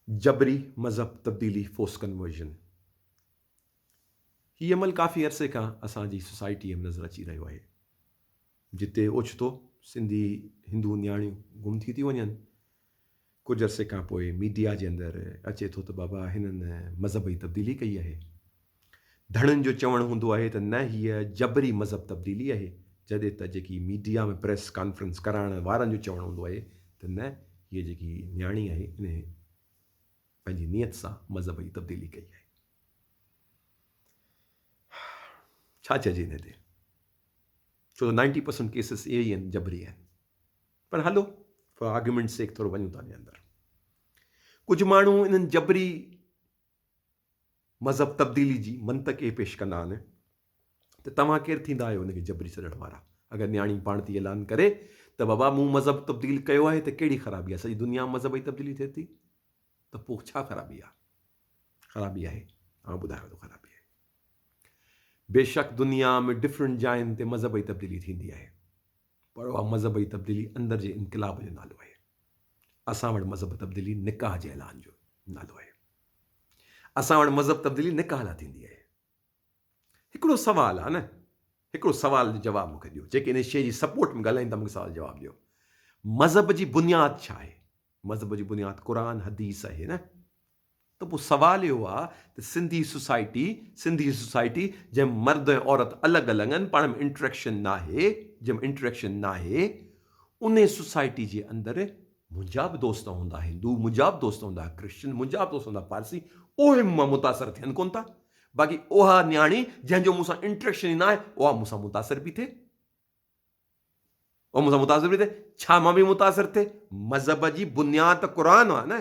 جبري مذهب تبديلي، Forced Conversion، هي عمل ڪافي عرصي کان اسان جي سوسائٽيء ۾ نظر اچي رهيو آهي، جتي اوچتو سنڌي هندو نياڻيون گم ٿي ٿيون وڃن، ڪجهه عرصي کانپوء ميڊيا جي اندر اچي ٿو ته بابا هنن مذهبي تبديلي ڪئي آهي. ڌڻين جو چوڻ هوندو آهي ته نه هيء جبري مذهب تبديلي آهي جڏهن ته جيڪي ميڊيا ۾ پريس ڪانفرنس ڪرائڻ وارن جو چوڻ هوندو آهي ته نه هيء جيڪي نياڻي آهي انهي پنهنجي نيت سان مذهب جي تبديلي ڪئي آهي. ڇا چئجي انهي تي ڇو ته نائنٽي پرسنٽ ڪيسز اهي ئي آهن جبري آهن پر هلو آرگيومينٽ سيڪ ٿورو وڃون ٿا انهي اندر ڪجهه ماڻهو انهن جبري مذهب تبديلي جي منطق اهي پيش ڪندا آهن ته توهان ڪير ٿيندا آهيو ان کي جبري ڇڏڻ وارا؟ اگر نياڻي پاڻ ٿي اعلان ڪري ته بابا مون مذهب تبديل ڪيو آهي ته ڪهڙي خرابي آهي؟ سڄي دنيا ۾ مذهب جي تبديلي ٿئي ٿي ته پوء ڇا خرابي آهي؟ خرابي آهي آئون ٻڌايان ٿو خرابي آهي. بيشڪ دنيا ۾ ڊفرنٽ جاين تي مذهب جي تبديلي ٿيندي آهي. پر اها مذهب جي تبديلي اندر جي انقلاب جو نالو آهي. اسان وٽ مذهب تبديلي نڪاح جي اعلان جو نالو آهي. اسان وٽ مذهب تبديلي نڪاح لاء ٿيندي آهي. هڪڙو سوال آهي نه هڪڙو سوال جو جواب مون کي ڏيو جيڪي ان شيء جي سپورٽ ۾ ڳالهائين ٿا مون کي سوال جواب ڏيو مذهب جي بنياد ڇا آهي؟ مذهب جي بنياد قرآن حديث آهي نه. ته پوء سوال اهو آ ته سنڌي سوسائٽي، سنڌي سوسائٽي جنهن ۾ مرد ۽ عورت الڳ الڳ آهن، پاڻ ۾ انٽريڪشن ناهي، جنهن ۾ انٽريڪشن ناهي، انهي سوسائٽي جي اندر منهنجا به دوست هوندا هندو، منهنجا به دوست هوندا ڪرسچن، منهنجا به دوست هوندا پارسي، اهي مون مان متاثر ٿين ڪونه ٿا، باقي اها نياڻي جنهن جو مون سان انٽريڪشن ئي ناهي، اها مون سان متاثر پي ٿئي. اها مون سان متاثر پي ٿئي، ڇا مان پي متاثر ٿئي، مذهب جي بنياد ته قرآن آ نه،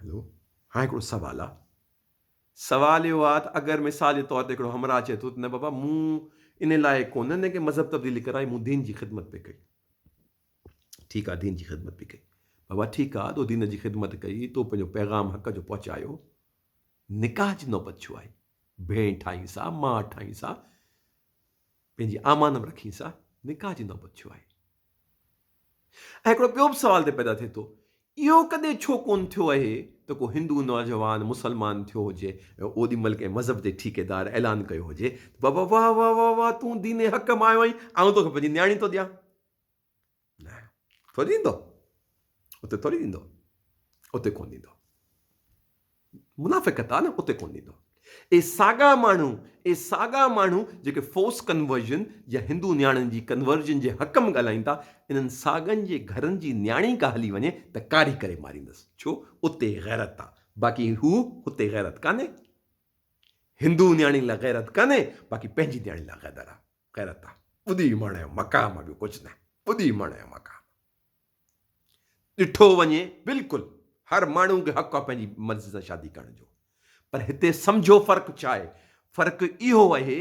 هلو هاڻي هڪڙو سوال آ. سوال اهو آ ته اگر مثال جي طور تي هڪڙو همراهه چئي ٿو ته نه بابا مون ان لائق ڪونه نه ڪنهن مذهب تبديلي ڪرائي مون دين جي خدمت پئي ڪئي ٺيڪ آ دين جي خدمت پئي ڪئي بابا ٺيڪ آ تو دين جي خدمت ڪئي تو پنهنجو پيغام حق جو پهچايو نڪاح جي نوبت ڇو آئي ڀيڻ ٺاهينس آ ماء ٺاهينس آ پنهنجي امان به رکين سا نڪاح جي نوبت ڇو آئي؟ ۽ هڪڙو ٻيو به سوال تي پيدا ٿئي ٿو اهو ڪڏهن ڇو ڪون ٿيو اهي ته ڪو هندو نوجوان مسلمان ٿيو هجي ۽ اوڏي مهل ڪنهن مذهب جي ٺيڪيدار اعلان ڪيو هجي ته بابا واه واه واه واه تون دين حق مان آيو آهين آئون توکي پنهنجي نياڻي ٿو ڏيان ٿوري ڏيندو اتي ٿوري ڏيندو اتي ڪون ڏيندو منافقت آ نه اتي ڪون ڏيندو اي ساڳا ماڻهو اي ساڳا ماڻهو جيڪي فورس ڪنورجن يا هندو نياڻين جي ڪنورجن جي حق م ڳالهائين ٿا انهن ساڳن جي گهرن جي نياڻي ڪا هلي وڃي ته ڪاري ڪري ماريندس ڇو اتي غيرت آ باقي هو هتي غيرت ڪانهي هندو نياڻي لا غيرت ڪانهي باقي پنهنجي نياڻي لا غيدر آ خير ته ٻڌي مڻ ۽ مقام ٻيو ڪجهه نه ٻڌي مڻ ۽ مقام ڏٺو وڃي بلڪل هر ماڻهو کي حق آهي پنهنجي مرضي سان شادي ڪرڻ جو پر هتي سمجهو فرق ڇا آهي فرق اهو اهي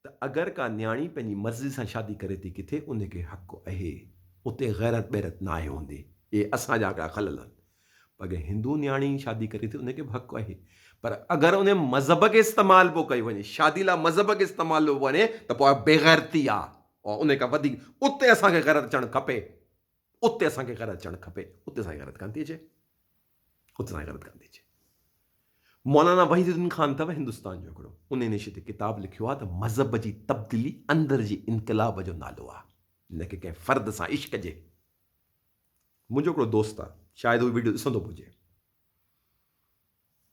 ته اگر ڪا نياڻي پنهنجي مرضي سان شادي ڪري ٿي ڪٿي ان کي حق اهي اتي غيرت بيرت ناهي هوندي اهي اسان جا هڪڙا خلل آهن پر جي هندو نياڻي شادي ڪري ٿي ان کي به حق آهي پر اگر ان مذهب کي استعمال پيو ڪيو وڃي شادي لاء مذهب کي استعمال پيو وڃي ته پوء بيغيرتي آ او ان کان وڌيڪ اتي اسان کي غيرت اچڻ کپي اتي اسان کي غيرت اچڻ کپي اتي اسان کي غيرت ڪان ٿي اچي اتي اسان کي غيرت ڪان ٿي اچي مولانا وحيد الدين خان اٿو هندستان جو هڪڙو ان نشي تي ڪتاب لکيو آ ته مذهب جي تبديلي اندر جي انقلاب جو نالو آ نه ڪي ڪنهن فرد سان عشق جي منهنجو هڪڙو دوست آ شايد هو وڊيو ڏسندو به هجي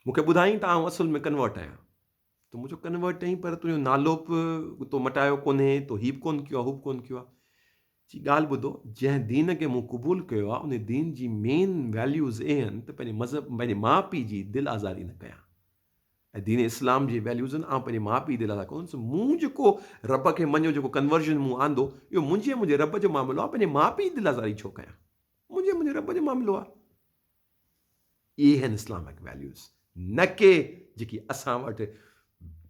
مونکي ٻڌائين ته آئون اصل ۾ ڪنورٽ آهيان تو منهنجو ڪنورٽ چئين پر تنهنجو نالو به تو مٽايو ڪونهي تو هي به ڪون ڪيو آ هو به ڪون ڪيو آ چي ڳالهه ٻڌو جنهن دين کي مون قبول ڪيو آ ان دين جي مين ويليوز اهي آهن ته پنهنجي مذهب پنهنجي ماء پيء جي دل آزاري نه ڪيان ۽ دين اسلام جي ويليوزن آئون پنهنجي ماء پيء دي لالا ڪونه سو مون جيڪو رب کي مڃيو جيڪو ڪنورزن مون آندو اهو منهنجي ۽ منهنجي رب جو معاملو آ پنهنجي ماء پيء دي لالا زاري ڇو ڪيان منهنجي ۽ منهنجي رب جو معاملو آ اهي آهن اسلامڪ ويليوز نه ڪي جيڪي اسان وٽ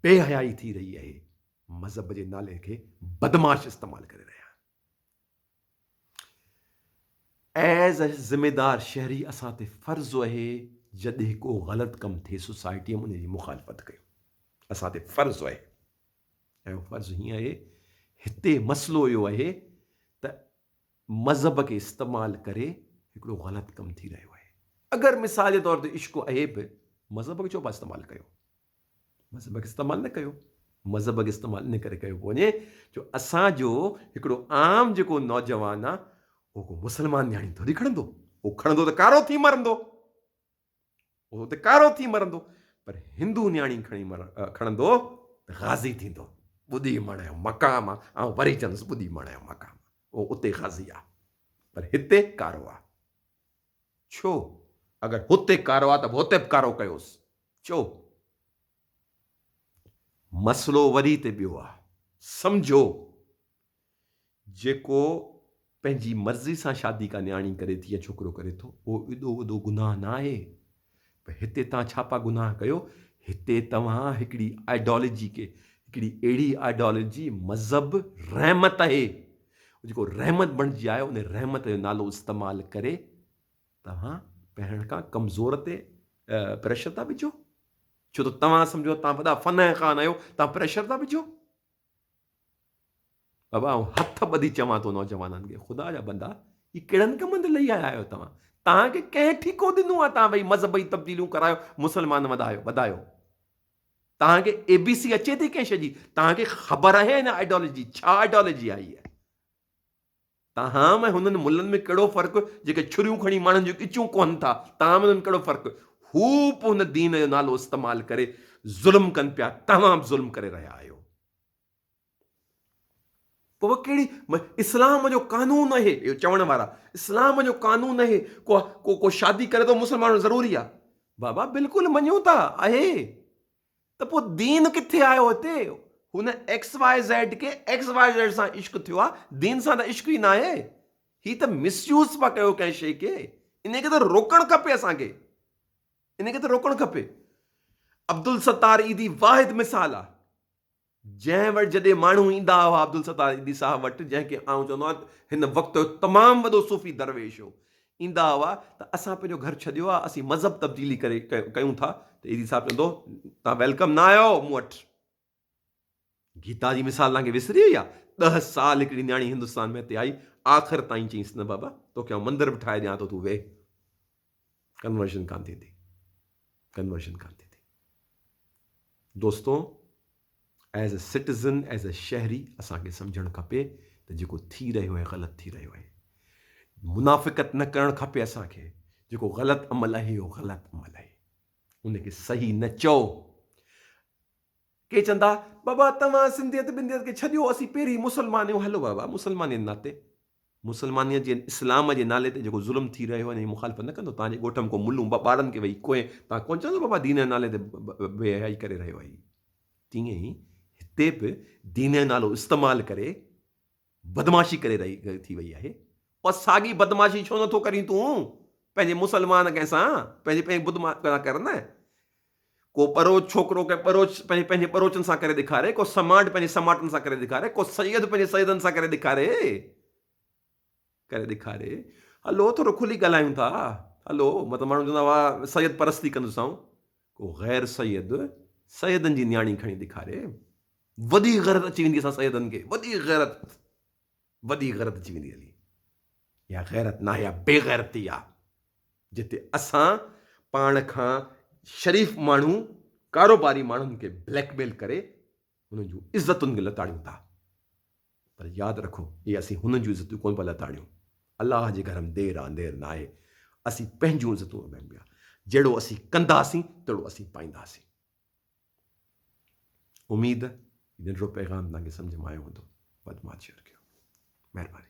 بي حيائي ٿي رهي اهي مذهب جي نالي کي بدمعاش استعمال ڪري رهيا ايز اي ذميدار شهري اسان تي فرض اهي جڏهن ڪو غلط ڪم ٿئي سوسائٽي ان جي مخالفت ڪيو اسان تي فرض اهي ۽ فرض هيئن اهي هتي مسئلو اهو اهي ته مذهب کي استعمال ڪري هڪڙو غلط ڪم ٿي رهيو اهي اگر مثال جي طور تي عشق اهي به مذهب کي ڇو پا استعمال ڪيو مذهب کي استعمال نه ڪيو. مذهب کي استعمال ان ڪري ڪيو پيو وڃي جو اسان جو هڪڙو عام جيڪو نوجوان آ اهو ڪو مسلمان نياڻي ٿوري کڻندو. اهو کڻندو ته ڪارو ٿي مرندو. اهو اتي ڪارو ٿي مرندو. پر هندو نياڻي کڻي کڻندو ته غازي ٿيندو. ٻڏي مڙهڻ جو مقام آ. آئون وري چوندس ٻڏي مڙهڻ جو مقام آ. اهو اتي غازي آ. پر هتي ڪارو آ. ڇو؟ اگر هتي ڪارو آ ته به هتي به ڪارو ڪيوس ڇو؟ مسئلو وري هتي ٻيو آ. سمجهو جيڪو پنهنجي مرضي سان شادي ڪا نياڻي ڪري ٿي يا ڇوڪرو ڪري ٿو اهو ايڏو وڏو گناهه نه آهي. پر هتي توهان ڇا پا گناهه ڪيو، هتي توهان هڪڙي آئيڊالجي کي، هڪڙي اهڙي آئيڊالجي، مذهب، رحمت اهي، جيڪو رحمت بڻجي آيو، ان رحمت جو نالو استعمال ڪري توهان پهرڻ کان ڪمزور تي پريشر ٿا وجهو، ڇو ته توهان سمجهو ٿا توهان وڏا فنه خان آهيو، توهان پريشر ٿا وجهو. بابا آئون هٿ ٻڌي چوان ٿو نوجوانن کي خدا جا بندا هي ڪهڙن ڪمن تي لهي آيا آهيو توهان توهان کي ڪنهن ٺيڪو ڏنو آهي توهان ويهي مذهبي تبديليون ڪرايو مسلمان وڌايو وڌايو توهان کي اي بي سي اچي ٿي ڪنهن شي جي توهان کي خبر آهي هن آئيڊيالوجي ڇا آئيڊيالوجي آهي تاهم ۽ هنن ملن ۾ ڪهڙو فرق جيڪي ڇريون کڻي ماڻهن جون ڳچيون ڪوهن ٿا، تاهم ۽ هنن ڪهڙو فرق هو به هن دين جو نالو استعمال ڪري ظلم ڪن پيا، توهان به ظلم ڪري رهيا آهيو. پوء ڪهڙي اسلام جو قانون اهي اهو چوڻ وارا اسلام جو قانون اهي ڪو ڪو شادي ڪري ٿو مسلمان هئڻ ضروري آهي بابا بلڪل مڃون ٿا اهي ته پوء دين ڪٿي آيو هتي؟ هن ايڪس واء زيڊ کي ايڪس واء زيڊ سان عشق ٿيو آ دين سان ته عشق ئي ناهي هي ته مس يوز پيا ڪيو ڪنهن شي کي ان کي ته روڪڻ کپي اسان کي ان کي ته روڪڻ کپي عبدالستار عيدي واحد مثال آ جنهن وٽ جڏهن ماڻهو ايندا هئا عبدالستار ايندي صاحب وٽ جنهن کي آئون چوندو آهيان ته هن وقت جو تمام وڏو صوفي درويش هو ايندا هئا ته اسان پنهنجو گهر ڇڏيو آهي اسين مذهب تبديلي ڪري ڪيون ٿا ته ايندي صاحب چوندو هو توهان ويلڪم نه آهيو مون وٽ گيتا جي مثال توهان کي وسري وئي آهي ڏهه سال هڪڙي نياڻي هندستان ۾ هتي آئي آخر تائين چيس نه بابا توکي آئون مندر به ٺاهي ڏيان ٿو تون ويهه ڪنورشن ڪانه ٿيندي ڪنورشن ڪانه ٿيندي دوستو as a citizen as a شهري اسان کي سمجھڻ کپي ته جيڪو ٿي رهيو آهي غلط ٿي رهيو آهي منافقت نه ڪرڻ کپي اسان کي جيڪو غلط عمل آهي اهو غلط عمل آهي ان کي صحيح نه چئو ڪي چوندا، بابا توهان سنڌيت بنديت کي ڇڏيو اسين پهرين مسلمان آهيون، هلو بابا مسلمانيء جي ناتي مسلمانيت جي اسلام جي نالي تي جيڪو ظلم ٿي رهيو آهي ان جي مخالفت نه ڪندو، توهان جي ڳوٺ ۾ ڪو ملون ٻه ٻارن کي ويهي ڪوهين توهان ڪونه چوندو بابا دين جي نالي تي بي حيائي ڪري رهيو آهي، تيئن ئي هتي به دين جو نالو استعمال ڪري. بدمعاشي ڪري رهي ٿي وئي آهي پر ساڳي بدمعاشي ڇو نه ٿو ڪرين تون پنهنجي مسلمان ڪنهن سان پنهنجي پنهنجي بدم ڪرا ڪر نه ڪو ٻروچ ڇوڪرو ڪنهن ٻروچ پنهنجي پنهنجي ٻروچن سان ڪري ڏيکاري ڪو سماٽ پنهنجي سماٽن سان ڪري ڏيکاري ڪو سيد پنهنجي سيدن سان ڪري ڏيکاري ڪري ڏيکاري هلو ٿورو کلي ڳالهايون ٿا هلو مطلب ماڻهو چوندا هئا سيد پرستي ڪندسون ڪو غير سيد سيدن جي نياڻي کڻي ڏيکاري وڏي غيرت اچي ويندي اسان سيدن کي وڏي غيرت وڏي غيرت اچي ويندي هلي يا غيرت ناهي يا بي غيرتي آ جتي اسان پاڻ کان شريف ماڻهو ڪاروباري ماڻهن کي بليڪ ميل ڪري انهن جون عزتن کي لتاڙيون ٿا پر ياد رکو جي اسين هنن جون عزتون ڪونه پيا لتاڙيون الله جي گهر م دير آ اندير ناهي اسين پنهنجون عزتون اڀيم پيا جهڙو اسين ڪنداسين تهڙو اسين پائينداسين اميد هي ننڍڙو پيغام توهان کي سمجهه م آيو هوندو ودماچيئر ڪيو مهرباني.